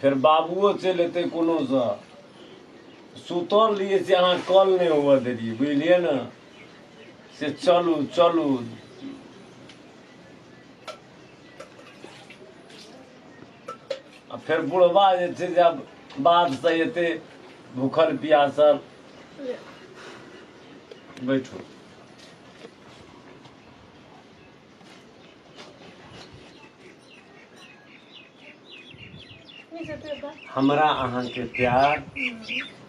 फेर बाबुओ चलि अयतै कोनोसँ सुतल रहियै से अहाँ कॉल नहि हुअ देलियै बुझलियै ने से चलू चलू आ फेर बुढ़बा जे छै से आब बाधसँ एतै भूखल पियासल बैठू हमरा अहाँके प्यार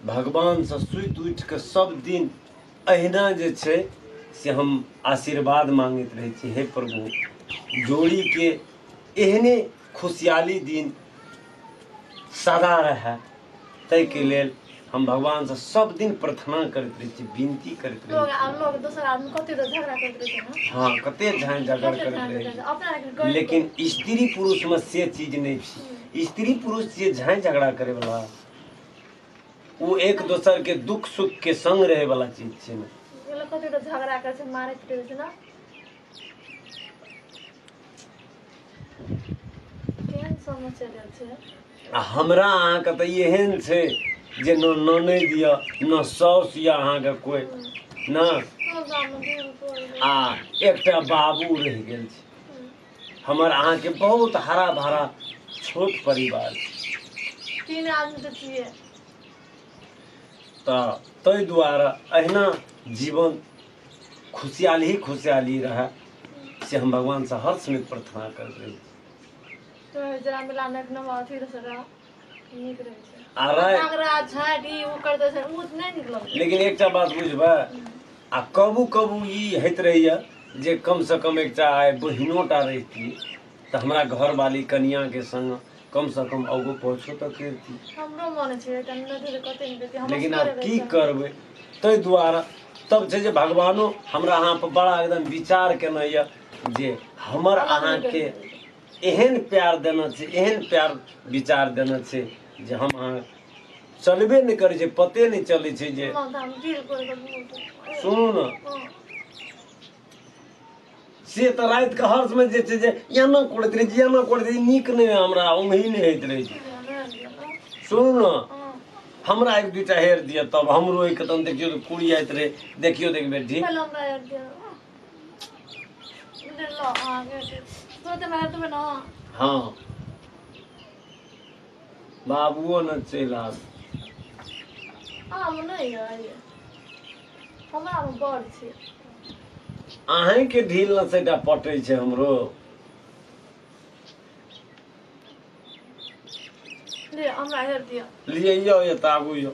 भगवानसँ सुति उठि कऽ सब दिन अहिना जे छै से हम आशीर्वाद मांगैत रहै छी हे प्रभु जोड़ीके एहने खुशहाली दिन सदा रहए ताहिके लेल हम भगवान से सब दिन प्रार्थना करते रहे छी विनती करते रहे लोग आ लोग दोसर आदमी कते तो झगड़ा करते रहे छी हाँ कते झान झगड़ करते रहे लेकिन स्त्री पुरुष में से चीज नहीं छी स्त्री पुरुष से झान झगड़ा करे वाला वो एक दोसर के दुख सुख के संग रहे वाला चीज छे ना कते तो झगड़ा करे छे मारे पीटे छे ना केहन समस्या भेल छै आ हमरा अहाँके तऽ एहन छै जे न ननैद यऽ न साउस यऽ अहाँके कोइ न सब गाममे दिन कोन आ एकटा बाबू रहि गेल छै हमर अहाँके बहुत हरा भरा छोट परिवार छै तीन आदमी तऽ छियै तऽ ताहि दुआरे अहिना जीवन खुशहाल ही खुशहाल ही रहा से हम भगवान से हर समय प्रार्थना कर रहे हैं तो जरा मिला में अपना अथी रह सरा नीक रहे छै आ रहे नागरा झाट ई उ कर दे छै उ नै नीक लगे लेकिन एकटा बात बुझबै आ कबू कबू ई होइत रहैए जे कमसँ कम एकटा आइ बहिनोटा रहितियै तऽ हमरा घरवाली कनियाँके सङ्ग कम से कम आगू पहुँचो तऽ करती हमरो मन छै एकटा नदी तऽ कते ने देती हमर लेकिन आब सबके की रहै छै। करबै ताहि दुआरे तब छै जे भगवानो हमरा अहाँ पर बड़ा एकदम विचार केने यऽ जे हमर अहाँके एहन प्यार देना छै एहन प्यार विचार देना छै जे हम अहाँ चलबे नहि करै छै पते नहि चलै छै जे माँ तऽ हम गिर पड़ि गेलहुँ। सुनू ने हँ। से तऽ राति के हर्ष में जे छै जे एना करैत रहै छै एना करैत रहै नीक नहि हमरा उम्ही नहि होइत रहै छै सुनू ने हमरा एक दूटा हेर दिअ तब हमरो एक तन देखियौ तऽ कुड़ी आइत रहे देखियौ देख बेटी हाँ बाबुओ ने चलि आब आम नहि अइ हमरा आम बड़ छै अहींके ढील ने से एकटा पटै छै हमरो ले हमरा हेर दिअ लिए यौ एतऽ आबू यौ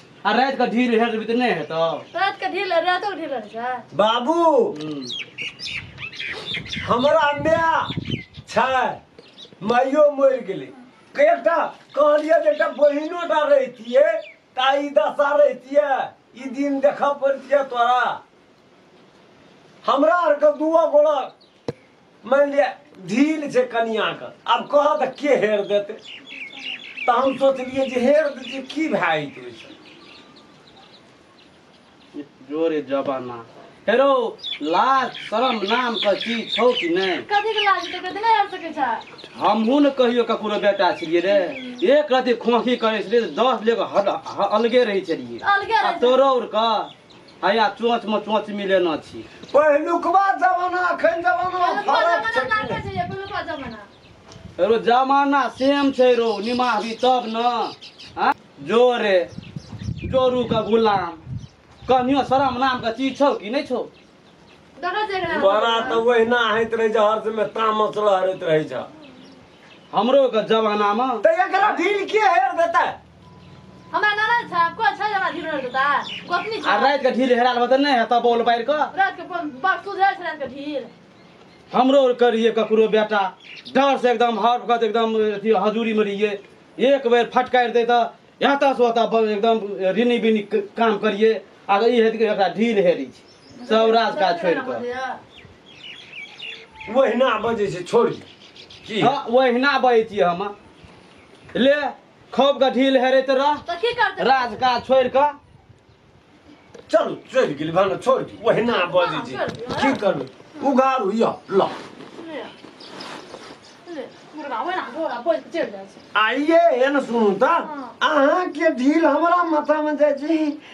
आ रात के ढील हेर भी त नै हेतो रात के ढील रातो के ढील रहै छै बाबू हमरा माय छै माइयो मरि गेलै एकटा कहलियै जे एकटा बहिनो टा रहितियै ता ई दशा रहितियै ई दिन देखऽ पड़ितियै तोरा हमरा आरके दुओ गोड़ा मानि लिअ ढील छै कनियाके आब कह तऽ के हेर देतै तऽ हम सोचलियै जे हेर देतै की भए जेतै ओहिसँ जोरे जबाना हेरो लाज शरम नाम के चीज छौ कि नहि कथी के लाज छै कथी नहि हट सकै छै हमहूँ ने कहियो ककरो बेटा छलियै रे एक रति खोखी करै छलियै तऽ दस लेके हल- ह- अलगे रहै छलियै अलगे आ रहै छै। तोरो उर कऽ हैया चोंच में चोंच मिलेना छी पहिलुकवा जमाना अखन जमाना में पहिलुका फरक जमाना छै कि लागै छै जे पहिलुका जमाना रो जमाना सेम छै रो निमाहबी तब न आँ? जो रे जोरू के गुलाम कनियो शरम नाम के चीज छौ कि नहि छौ देखै छै एकरा बड़ा तऽ ओहिना होइत रहै छै हर समय तामस रहैत रहै छै हमरो के जमाना मे तऽ एकरा ढील के हेर देतै हमरा ननद छै कोई छै हमरा धीरे रहल ता गोतनी छै आ रात के ढील हेराल बतन नहीं है तब बोल बाहर का रात के पन- बड़ सुधर छै रात के ढील हमरो करिए ककरो बेटा डर से एकदम हर वक्त एकदम अथी हजूरी में रहिए एक बेर फटकारि दे तो यहाँ तक से होता बस एकदम रिनी बिनी क- काम करिए आ ई हेत के एकरा ढील हेरी छै सब राज काज छोड़ि कऽ ओहिना बजै छै छोड़ी की हाँ ओहिना बहै छियै हम ले खौप का ढील हेरैत रह तो की करते राज का छोड़ का चल चल गेल भन छोड़ दी ओहिना बजै छै हाँ, छोड़ दियौ, की करबै उघार हुइया ल मुर्गा वही ना घोड़ा बोल के चढ़ जाए आइए एन सुनू तऽ हाँ। अहाँके ढील हमरा माथामे जाइ छै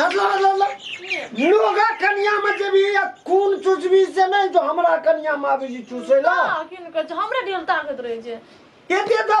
हल्ला हल्ला हल्ला लोगा कनिया में जेबी या खून चुचबी से नहीं जो हमरा कनिया में आबी जी चूसे ला हाँ, किन कहे छै, हमरा डेल ताकत रहे छै केते